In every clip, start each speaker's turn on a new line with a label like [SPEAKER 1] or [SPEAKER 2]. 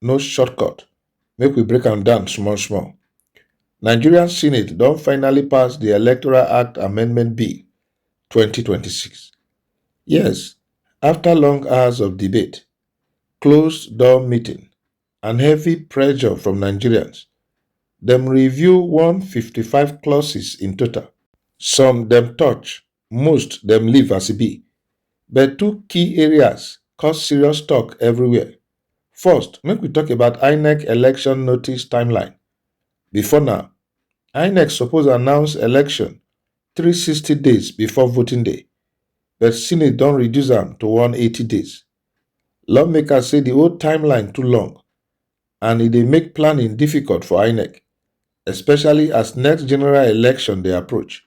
[SPEAKER 1] no shortcut. Make we break am down small small. Nigerian Senate don finally pass the Electoral Act Amendment Bill 2026. Yes, after long hours of debate, closed door meeting, and heavy pressure from Nigerians, dem review 155 clauses in total. Some dem touch, Most dem leave as e be, but two key areas cause serious talk everywhere. First, make we talk about INEC election notice timeline. Before now, INEC suppose announce election 360 days before voting day, but Senate don reduce am to 180 days. Lawmakers say the old timeline too long and e dey make planning difficult for INEC, especially as next general election dey approach.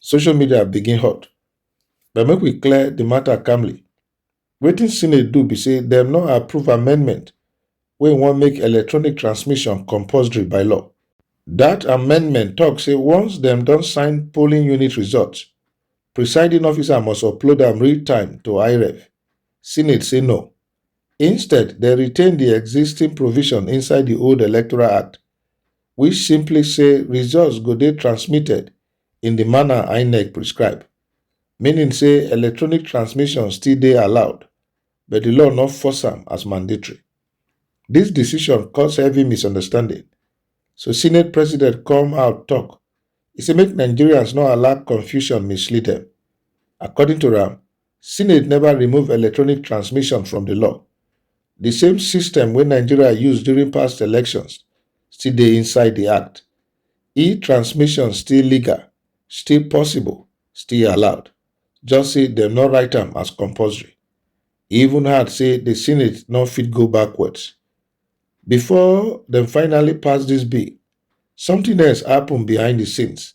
[SPEAKER 1] social media begin hot but make we clear di matter calmly. Wetin Senate do be say dem no approve amendment wey wan make electronic transmission compulsory by law. Dat amendment talk say once dem don sign polling unit results, presiding officer must upload am real time to IREV. Senate say no, Instead, dem retain di existing provision inside di old Electoral Act, which simply say results go dey transmitted in di manner INEC prescribe, meaning say electronic transmission still dey allowed, but di law no force am as mandatory. Dis decision cause heavy misunderstanding, so Senate President come out tok, e say make Nigerians no allow confusion mislead dem. According to am, Senate never remove electronic transmission from the law. The same system wey Nigeria use during past elections still dey inside the act. E-transmission still legal, still possible, still allowed. Just say dem no write am as compulsory. E even hard say the Senate no fit go backwards. Before dem finally pass this bill, something else happen behind the scenes.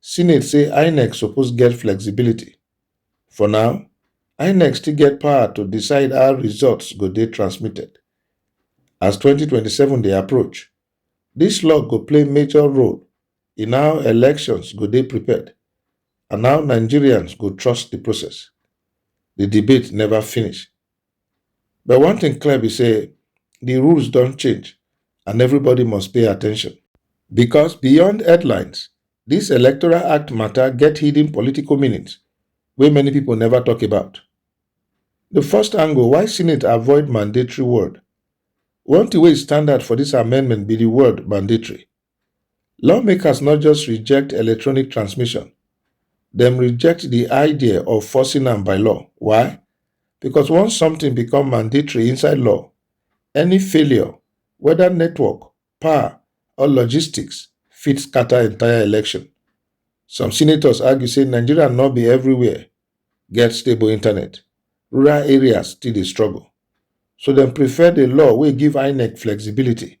[SPEAKER 1] Senate say Inec suppose get flexibility. For now, Inec still get power to decide how results go dey transmitted. As 2027 dey approach, dis law go play major role in how elections go dey prepared and how Nigerians go trust di process. Di debate neva finish. But one thing clear be say the rules don change and everybody must pay attention. Because beyond headlines, this Electoral Act matter get hidden political meanings wey many people never talk about. The first angle why Senate avoid mandatory word. One thing wey is standard for this amendment be the word mandatory. Lawmakers no just reject electronic transmission, dem reject di idea of forcing am by law. Why? Because once something become mandatory inside law, any failure, whether network, power, or logistics, fit scatter entire election. Some senators argue say Nigeria no be everywhere get stable internet. Rural areas still dey struggle. So dem prefer the law wey give INEC flexibility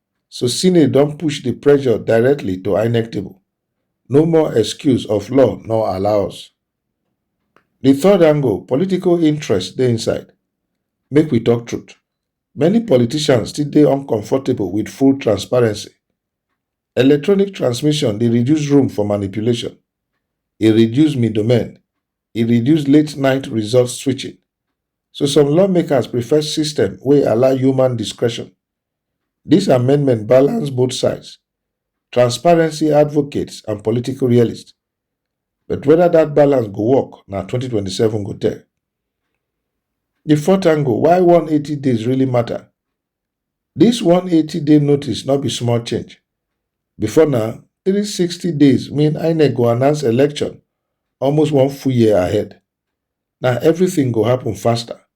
[SPEAKER 1] So Senate don push the pressure directly to INEC table. No more excuse of law no allow us. The third angle, political interest dey inside. Make we talk truth. Many politicians still dey uncomfortable with full transparency. Electronic transmission dey reduce room for manipulation. E reduce middlemen. E reduce late night result switching. So some lawmakers prefer system wey allow human discretion. Dis amendment balance both sides, transparency advocates and political realists, but whether dat balance go work na 2027 go tell. Di fourth angle, why 180 days really matter? Dis 180 day notice no be small change. Before na 360 days mean INEC go announce election almost one full year ahead. Na everything go happen faster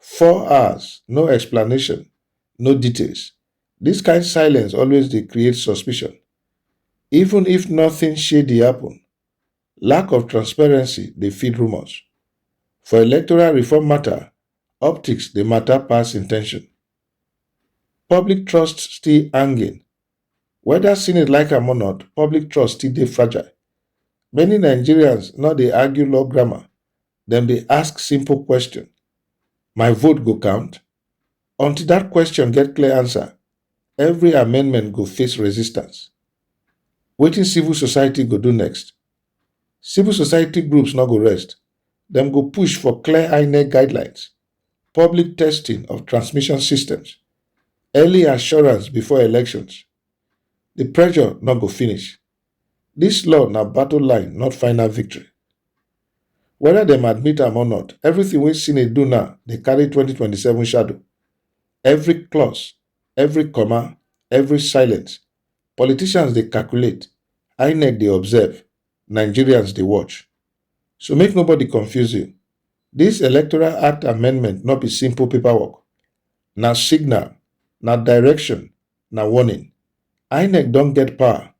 [SPEAKER 1] four hours no explanation no details dis kain silence always dey create suspicion even if nothing shady happen lack of transparency dey feed rumours for electoral reform matter optics dey matter pass intention public trust still hanging whether senate like am or not public trust still dey fragile many nigerians no dey argue law grammar dem dey ask simple question my vote go count until dat question get clear answer every amendment go face resistance wetin civil society go do next civil society groups no go rest dem go push for clear inec guidelines public testing of transmission systems early assurance before elections di pressure no go finish Dis law na battle line not final victory. Weda dem admit am or not, everything wey Cine do now dey carry 2027 shadow. Every clause, every comma, every silence, politicians dey calculate, INEC dey observe, Nigerians dey watch. So make nobody confuse you. Dis Electoral Act amendment no be simple paperwork. Na signal, na direction, na warning. INEC don get power,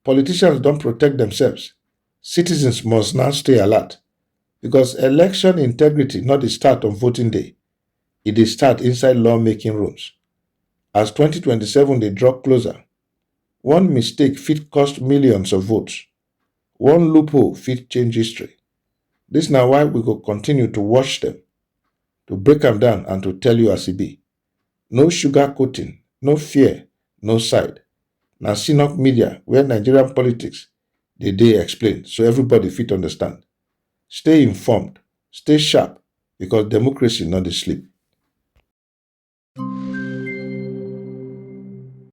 [SPEAKER 1] politicians don protect themselves, citizens must now stay alert because election integrity no dey start on voting day, e dey start inside lawmaking rooms. As 2027 dey draw closer, one mistake fit cost millions of votes, one loophole fit change history. Dis na why we go continue to watch dem, to break am down and to tell you as e be. No sugar coating, no fear, no side. Na Sinop media where Nigerian politics dey dey explain so everybody fit understand. Stay informed, stay sharp because democracy no dey sleep.